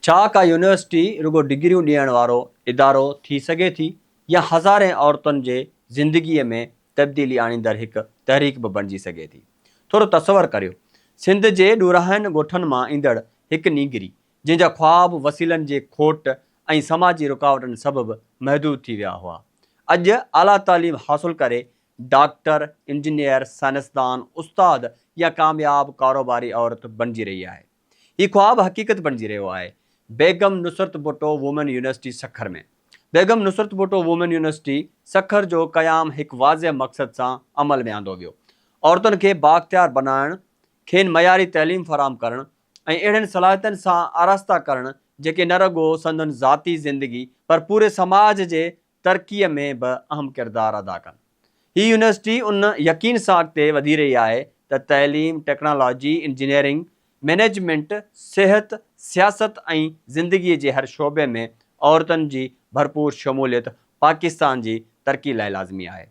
ڇا ڪا يونيورسٽي رڳو ڊگريون ڏيڻ وارو ادارو ٿي سگهي ٿي يا هزارين عورتن جي زندگيء ۾ تبديلي آڻيندڙ هڪ تحريڪ به بڻجي سگهي ٿي؟ ٿورو تصور ڪريو، سنڌ جي ڏورانهن ڳوٺن مان ايندڙ هڪ نينگري، جنهن جا خواب وسيلن جي کوٽ ۽ سماجي رڪاوٽن سبب محدود ٿي ويا هئا، اڄ اعليٰ تعليم حاصل ڪري ڊاڪٽر، انجنيئر، سائنسدان، استاد يا ڪامياب ڪاروباري عورت بڻجي رهي آهي. هي خواب حقيقت بڻجي رهيو آهي، Begum Nusrat Bhutto women university Sukkur ۾، Begum Nusrat Bhutto women university Sukkur جو قيام هڪ واضح مقصد سان عمل ۾ آندو ويو، عورتن کي بااختيار بنائڻ، کين معياري تعليم فراهم ڪرڻ ۽ اهڙين صلاحيتن سان آراسته ڪرڻ جيڪي نه رڳو سندن ذاتي زندگي پر پوري سماج جي ترقيء ۾ به اهم ڪردار ادا ڪن. هي يونيورسٽي ان يقين سان اڳتي وڌي رهي آهي ته تعليم، ٽيڪنالاجي، انجنيئرنگ، مئنيجمينٽ، صحت، سياست ۽ زندگيء جي هر شعبي ۾ عورتن جي ڀرپور شموليت پاڪستان جي ترقي لاء لازمي آهي.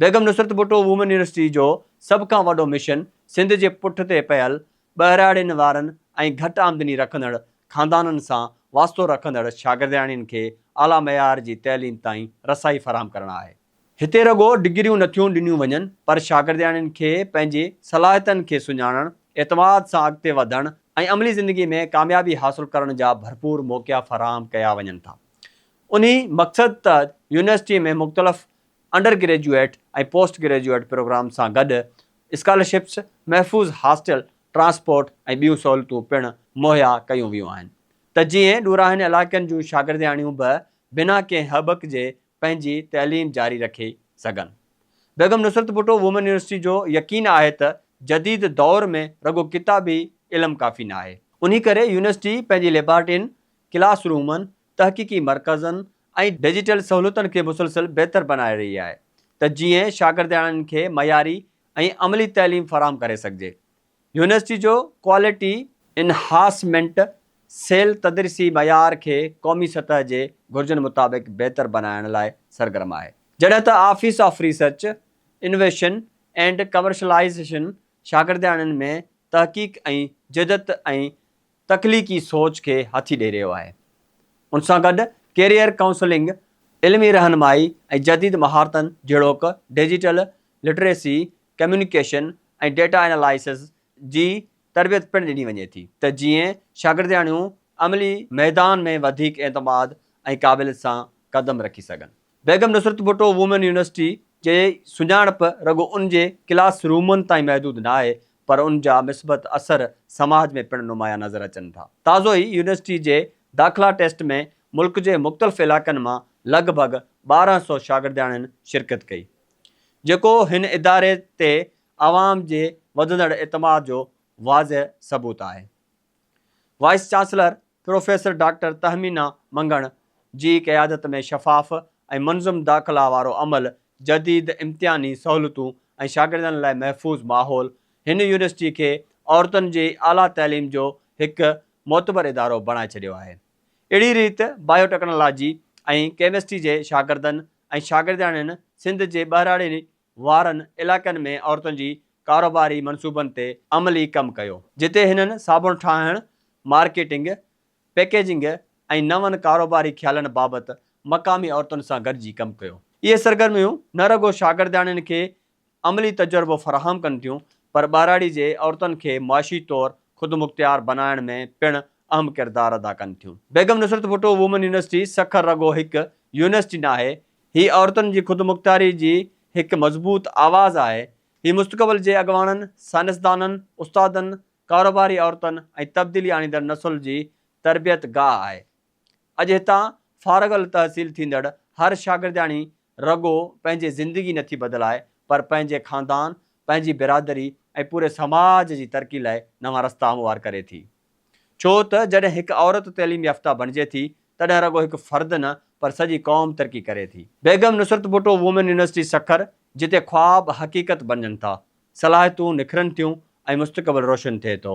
بيگم نصرت ڀٽو وومن يونيورسٽي جو سڀ کان وڏو مشن سنڌ جي پٺ تي پيل ٻهراڙين وارن ۽ گهٽ آمدني رکندڙ خاندانن سان واسطو رکندڙ شاگردياڻين کي اعليٰ معيار جي تعليم تائين رسائي فراهم ڪرڻ آهي. هتي رڳو ڊگريون نٿيون ڏنيون وڃن پر شاگردياڻين کي پنهنجي صلاحيتن کي سڃاڻڻ، اعتماد سان اڳتي وڌڻ ۽ عملي زندگي ۾ ڪاميابي حاصل ڪرڻ جا ڀرپور موقعا فراهم ڪيا وڃن ٿا. انهي مقصد تحت يونيورسٽي ۾ مختلف undergraduate ۽ postgraduate programme سان گڏ اسڪالرشپس، محفوظ هاسٽل، ٽرانسپورٽ ۽ ٻيون سهولتون پڻ مهيا ڪيون ويون آهن ته جيئن ڏورانهن علائقن جون شاگردياڻيون به بنا ڪنهن هٻڪ جي پنهنجي تعليم جاري رکي سگهن. بيگم نصرت ڀٽو وومن يونيورسٽي جو يقين آهي ته جديد دؤر ۾ رڳو ڪتابي علم ڪافي ناهي. انهي ڪري يونيورسٽي پنهنجي ليبارٽرين، ڪلاس رومن، تحقيقي مرڪزن ۽ ڊجيٽل سهولتن کي مسلسل بهتر بنائي رهي آهي ته جيئن شاگردياڻين کي معياري ۽ عملي تعليم فراهم ڪري سگهجي يونيورسٽي جو ڪوالٽي انهاسمينٽ سيل تدريسي معيار کي قومي سطح جي گهرجن مطابق بهتر بنائڻ لاء سرگرم آهي جڏهن ته office of research, innovation and commercialisation شاگردياڻين ۾ تحقيق ۽ جدت ۽ تخليقي سوچ کي هٿي ڏئي رهيو آهي. ان سان گڏ ڪيريئر ڪائونسلنگ، علمي رهنمائي ۽ جديد مهارتن جهڙوڪ digital literacy, communication ۽ data analysis جي تربيت پڻ ڏني وڃي ٿي ته جيئن شاگردياڻيون عملي ميدان ۾ وڌيڪ اعتماد ۽ قابليت سان قدم رکي سگهن. بيگم نصرت ڀٽو وومين يونيورسٽي جي سڃاڻپ رڳو ان جي ڪلاس رومن تائين محدود نه آهي پر ان جا مثبت اثر سماج ۾ پڻ نمايان نظر اچن ٿا. تازو ئي يونيورسٽي جي داخلا ٽيسٽ ۾ ملڪ جي مختلف علائقن مان لڳ ڀڳ ٻارهن سؤ شاگردياڻين شرڪت ڪئي جيڪو هن اداري تي عوام جي وڌندڙ اعتماد جو واضح ثبوت آهي. Vice chancellor professor doctor Tahmina Mangan جي قيادت ۾ شفاف ۽ منظم داخلا وارو عمل، جديد امتحاني سهولتون ۽ شاگردن لاء محفوظ ماحول هن يونيورسٽي کي عورتن جي اعليٰ تعليم جو هڪ معتبر ادارو بڻائي ڇڏيو آهي. اهڙي ريت بايو ٽيڪنالاجي ۽ ڪيمسٽري جي شاگردن ۽ شاگردياڻين سنڌ جي ٻهراڙين وارن علائقن ۾ عورتن جي ڪاروباري منصوبن تي عملي ڪم ڪيو، جتي هنن صابڻ ٺاهڻ، مارڪيٽنگ، پيڪيجنگ ۽ نون ڪاروباري خيالن بابت مقامي عورتن سان گڏجي ڪم ڪيو. اهي سرگرميون نه رڳو شاگردياڻين کي عملي تجربو فراهم ڪن ٿيون، پر ٻهراڙي جي عورتن کي معاشي طور خودمختيار بنائڻ ۾ پڻ اهم ڪردار ادا ڪن ٿيون. بيگم نصرت ڀٽو وومن يونيورسٽي سکر رڳو هڪ يونيورسٽي ناهي، هي عورتن جي خودمختياري جي هڪ مضبوط آواز آهي. هي مستقبل جي اڳواڻن، سائنسدانن، استادن، ڪاروباري عورتن ۽ تبديلي آڻيندڙ نسل جي تربيت گاهه آهي. اڄ هتان فارغ التحصيل ٿيندڙ هر شاگردياڻي رڳو پنهنجي زندگي نٿي بدلائي پر پنهنجي خاندان، پنهنجي برادري ۽ پوري سماج جي ترقي لاء نوان رستا هموار ڪري ٿي. ڇو ته جڏهن هڪ عورت تعليم يافته بڻجي ٿي تڏهن رڳو هڪ فرد نه پر سڄي قوم ترقي ڪري ٿي. بيگم نصرت ڀٽو وومين يونيورسٽي سکر جتي خواب حقيقت بڻجن ٿا، صلاحيتون نکرن ٿيون ۽ مستقبل روشن ٿئي ٿو.